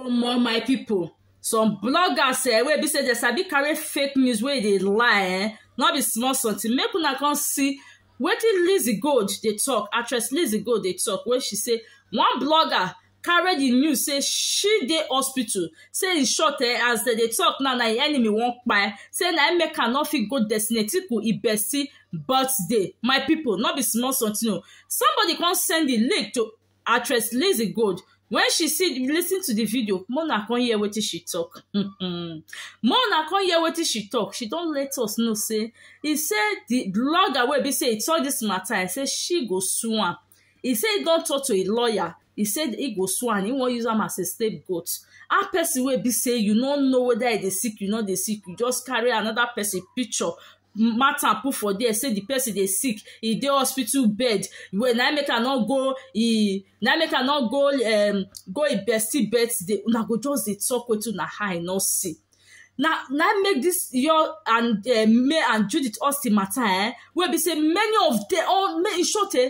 omo my pipo some bloggers eh, wey be say dem sabi carry fake news wey dey lie eh, no be small something make una come see wetin lizzy gold dey talk actress lizzy gold dey talk wey she say one blogger carry the news say she dey hospital say in short eh, as dem dey talk now na im enemy wan kpai say na im make her no fit go destinatiku ibesi birthday my people no be small something o somebody come send the link to actress Lizzy Gold when she see listen to the video more na come hear wetin she talk more na come hear wetin she talk she don let us know say e say the blogger wey be say e talk this matter e say she go sue am e say e don talk to a lawyer e say e go sue am e wan use am as a scapegoat how person wey be say you no know whether e dey sick you no dey sick you just carry another person picture matter put for there say the person dey sick e dey hospital bed well na make i no go e na make i no go um go e bestie birthday una go just dey talk wetin una eye no see na na make this your and uh, me and judith austin matter eh wey be say many of them all in short eh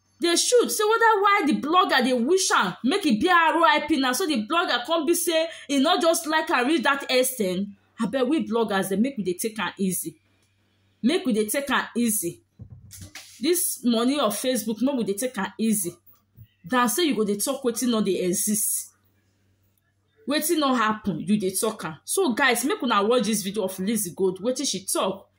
dey shoot say weda why di blogger dey wish am make e be RIP na so di blogger come be say e no just like am reach dat ex ten d abeg we bloggers dem make we dey take am easy make we dey take am easy dis money of Facebook make we dey take am easy than say you go dey talk wetin no dey exist wetin no happen you dey talk am so guys make una watch dis video of Lizzy Gold wetin she talk